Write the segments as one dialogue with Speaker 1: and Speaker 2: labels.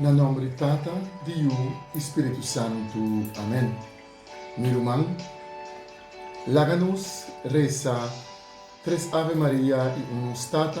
Speaker 1: Na nomber di Tata, di Yu i Spiritu Santu. Amen. Mi ruman, laga nos resa tres Ave Maria i un Nos Tata.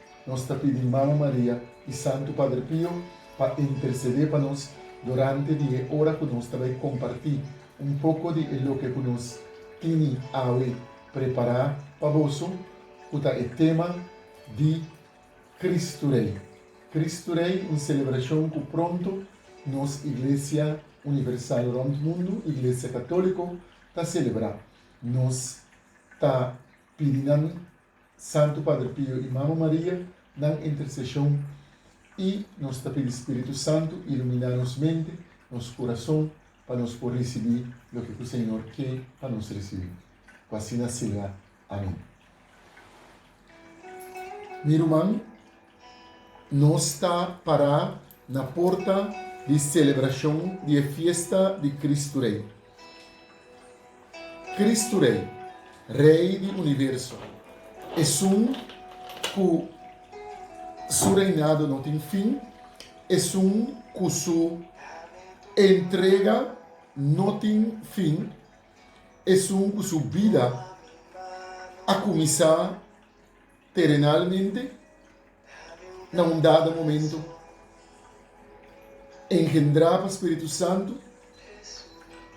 Speaker 1: Nos ta pidi Mama Maria i Santu Padre Pio pa intersedé pa nos durante di e ora ku nos ta bai kompartí un poko di e loke ku nos tini awe prepará pa boso, ku ta e tema di Kristu Rei. Kristu Rei, un selebrashon ku pronto nos Iglesia Universal rònt mundu, Iglesia Katóliko, ta selebrá. Nos ta pidi nan Santu Padre Pio i Mama Maria, nan interseshon i nos ta pidi Spiritu Santu iluminá nos mente, nos kurason pa nos por risibí loke ku Señor ke pa nos risibí. Ku asina sea. Amén. Mi ruman, Nos ta pará na porta di selebrashon di e fiesta di Kristu Rei. Kristu Rei, Rei di universo, esun ku Su reinado no tin fin, esun ku Su entrega no tin fin, esun ku Su bida a kuminsá, Terenalmente, na un dado momento, engendrá pa Spiritu Santu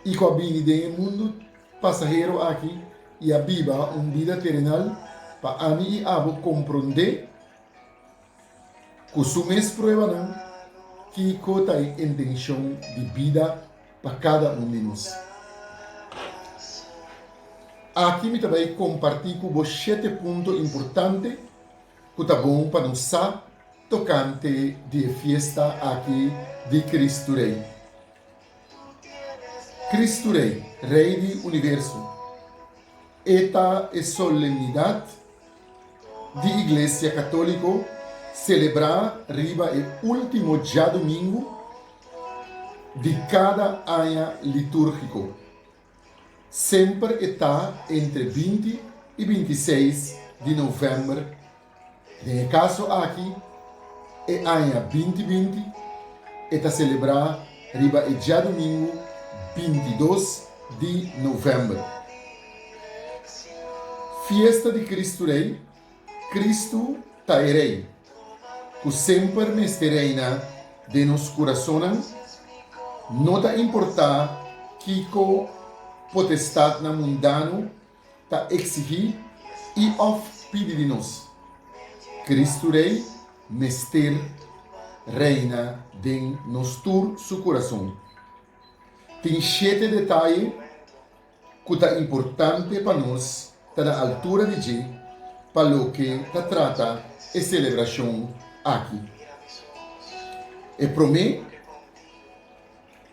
Speaker 1: i ku a bini den e mundu pasahero aki i a biba un bida terenal, pa ami i abo komprondé. Ku su mes pruebanan, kiko ta e intenshon di bida pa kada un di nos? Aki mi ta bai kompartí ku bo shete punto importante ku ta bon pa nos sa tokante di e fiesta aki di Kristu Rei. Kristu Rei, Rei di universo. E ta e solemnidad di Iglesia Católico celebrá riba e último djadumingu di cada aña litúrgico. Semper e ta entre binti i binti seis di novèmber. Den e kaso aki, e aña binti binti e ta selebrá riba e djadumingu binti dos di novèmber, fiesta di Kristu Rei, Kristu ta e Rei ku semper mester reina den nos kurasonnan, no ta importá kiko potestatnan mundano ta eksihí i òf pidi di nos. Kristu Rei mester reina den nos tur su kurason. Tin shete detaye ku ta importante pa nos ta na altura di dje pa loke ta trata e selebrashon aki. E promé.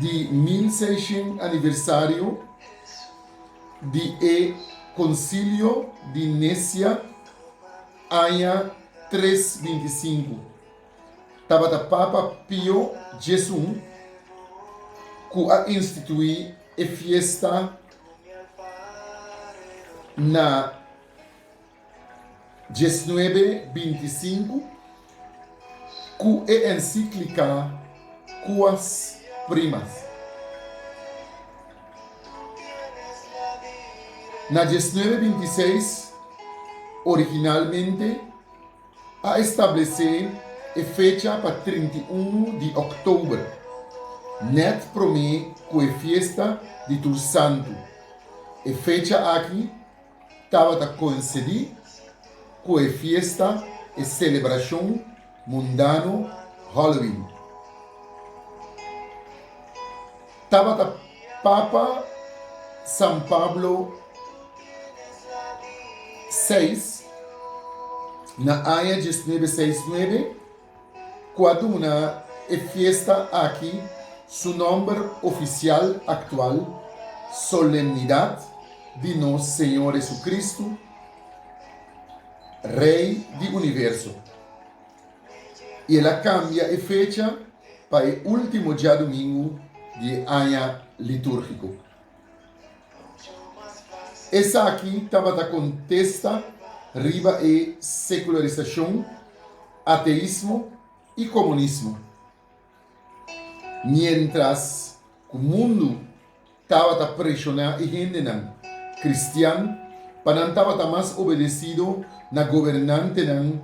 Speaker 1: di mil seishen aniversario di e Konsilio di Nesia aña tres binti i sinku, tabata Papa Pio Djesun ku a instituí e fiesta na. Dieznuebe binti sinku ku e ensíklika Quas Primas. Na dieznuebe binti seis, originalmente a establesé e fecha pa trinta i unu di òktober, nèt promé ku e fiesta di tur santu. E fecha aki tabata coincidí cu e fiesta, e celebracion mundano Halloween. Tabata Papa San Pablo vi na aña diesnuebe seis nuebe. cu a duna e fiesta aki su nomber oficial actual, Solemnidad di nos Señor Jesucristo, Rey di Universo, y el a cambia e fecha pa e ultimo diadomingo di e aña litúrgico. Esaki tabata kontesta riba e sekularisashon, ateismo i komunismo. Miéntras ku mundu tabata preshoná e hendenan kristian pa nan tabata mas obedesido na gobernantenan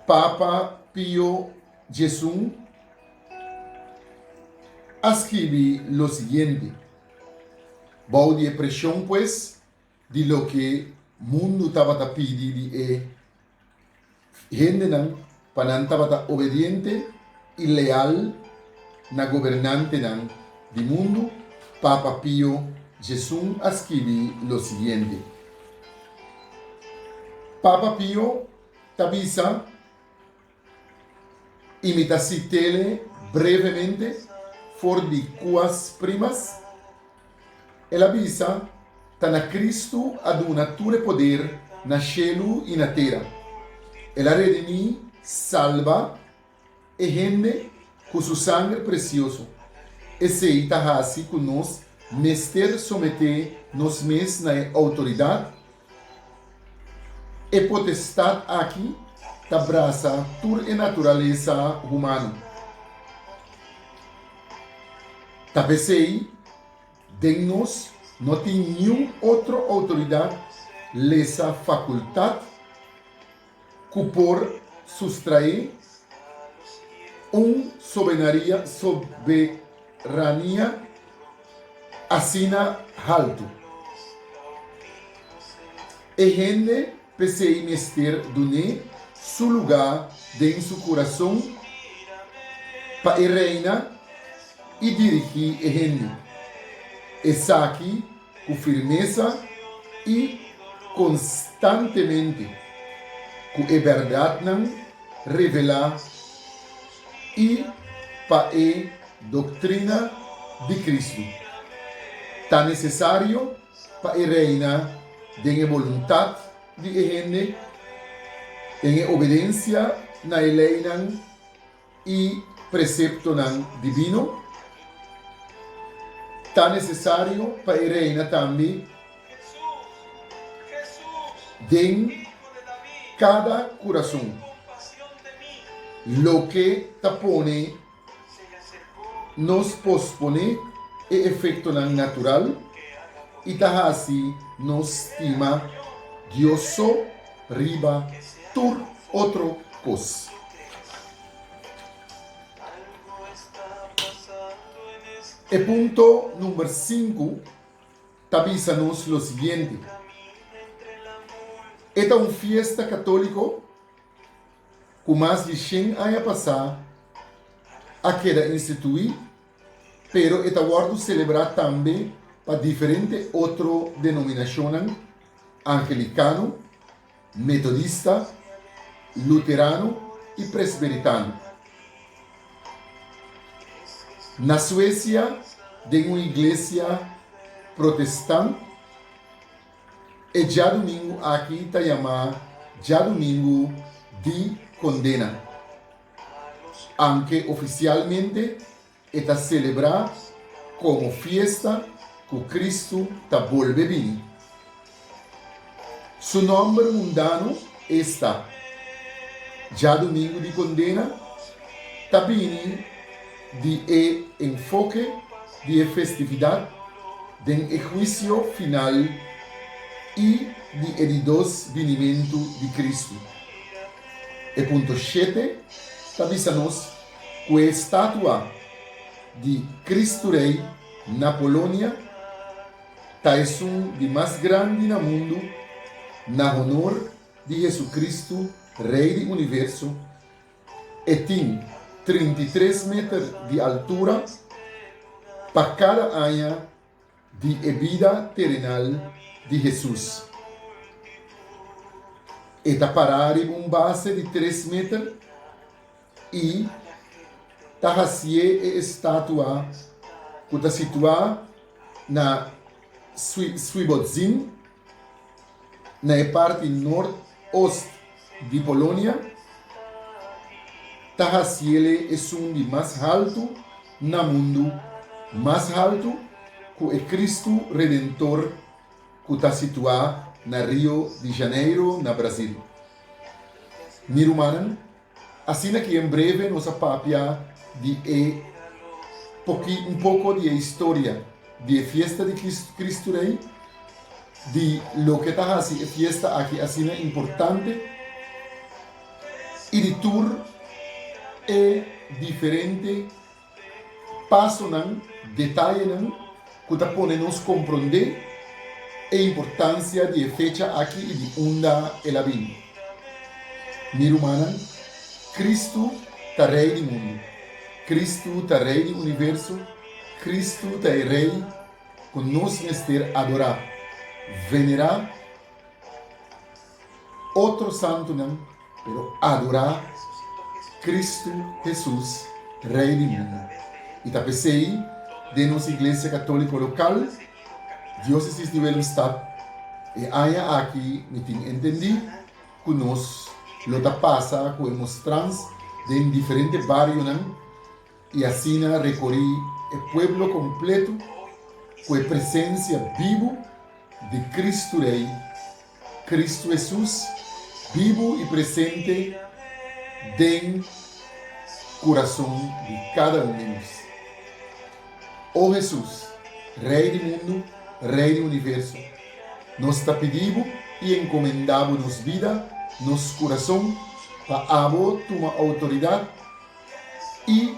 Speaker 1: Papa Pio xi. a scribi lo siguiente, Bou di e presion pues di loke mundu tabata pidi di e hendenan pa nan tabata obediente i leal na gobernantenan di mundu, Papa Pio Xi a scribi lo siguiente, Papa Pio ta bisa I mi ta cit'ele brevemente for di cuas primas. El a bisa, Ta na Cristo a duna tur e poder na shelu i na tera. El a redimi, salba, e hende cu su sanger precioso. Esey ta haci cu nos mester somete nos mes na e autoridad E potestat aki ta brasa tur e naturalesa humano. Ta p'esei den nos no tin niun otro outoridat lesa fakultat cu por sustrae un sobenaria soberania asina haltu. E hende p'esei mester dun'é su lugá den su curason pa e reina i dirigí e hende. Esaki Cu firmesa y constantemente cu e berdadnan revela y pa e doctrina di Cristo ta necesario pa e reina den e boluntad di e hende, den e obedencia na e leynan. i preseptonan divino. Ta nesesario pa e reina tambe den kada kurason loke ta pone nos posponé e efektonan natural i ta hasi nos stima Dios so. riba tur otro cos. E punto number sinku ta bisa nos lo siguiente, E ta un fiesta católico cu mas di shen aña pasá a keda instituí, Pero e ta wòrdu selebrá tambe pa diferente otro denominashonnan, Angelikano, Metodista, Luterano i Presberitano. Na Suesia, den un iglesia protestant, e djadumingu aki ta yamá Djadumingu di Kondena. Anke ofisialmente e ta selebrá komo fiesta ku Kristu ta bolbe bini. Su nòmber mundano esta, dja Dumingu di Kondena ta bini di e enfoke di e festividat den e huisio final i di e di dos binimentu di Kristu. E punto shete ta bisa nos ku e statua di Kristu Rei na Polonia ta esun di mas grandi na mundu na honor di Hesukristu, Rei di Universo. E tin trinta i tres meter di altura pa kada aña. Di e bida terenal di Hesus. E ta pará riba un base di tres meter i ta hasié e estatua ku ta situá na Swiebodzin. na e parti nort-ost di Polonia ta hasiele esun di mas haltu na mundu, mas haltu ku e Kristu Redentor ku ta situá na Rio di Janeiro, na Brazil. Mi rumannan, Asina ke en breve nos a papia di e poki un poko di e historia di e fiesta di Kristu Rei, di loke ta hasi e fiesta aki asina importante i di tur e diferente Pasonan, detayenan cu ta pone nos comprende e importancia di e fecha aki y di unda el a bini. Mi rumannan, Cristo ta Rey di mundo. Cristo ta Rey di universo. Cristo ta e Rey cu nos mester adora, venera. otro santunan, pero adorá Kristu Hesus, Rei di mundu. I ta p'esei den nos iglesia katóliko lokal, Diósesis di Willemstad, e aña aki mi tin entendí ku nos lo ta pasa ku e mostrans den diferente barionan i asina rekorí e pueblo kompletu ku e presensia bibu di Kristu Rei Kristu Hesus, bibu i presente den kurason di kada un di nos. O Hesus, Rei di mundu, Rei di universo, nos ta pidi Bo i enkomendá Bo nos bida, nos kurason, pa abo tuma outoridat i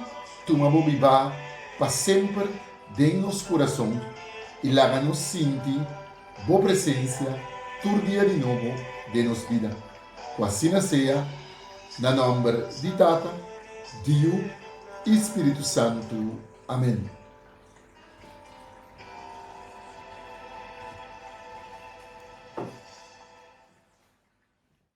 Speaker 1: tuma Bo bibá pa semper den nos kurason i laga nos sinti Bo presencia tur dia di nobo den nos bida. Cu asina sea, na nomber di Tata, di Yu y Spiritu Santu. Amen.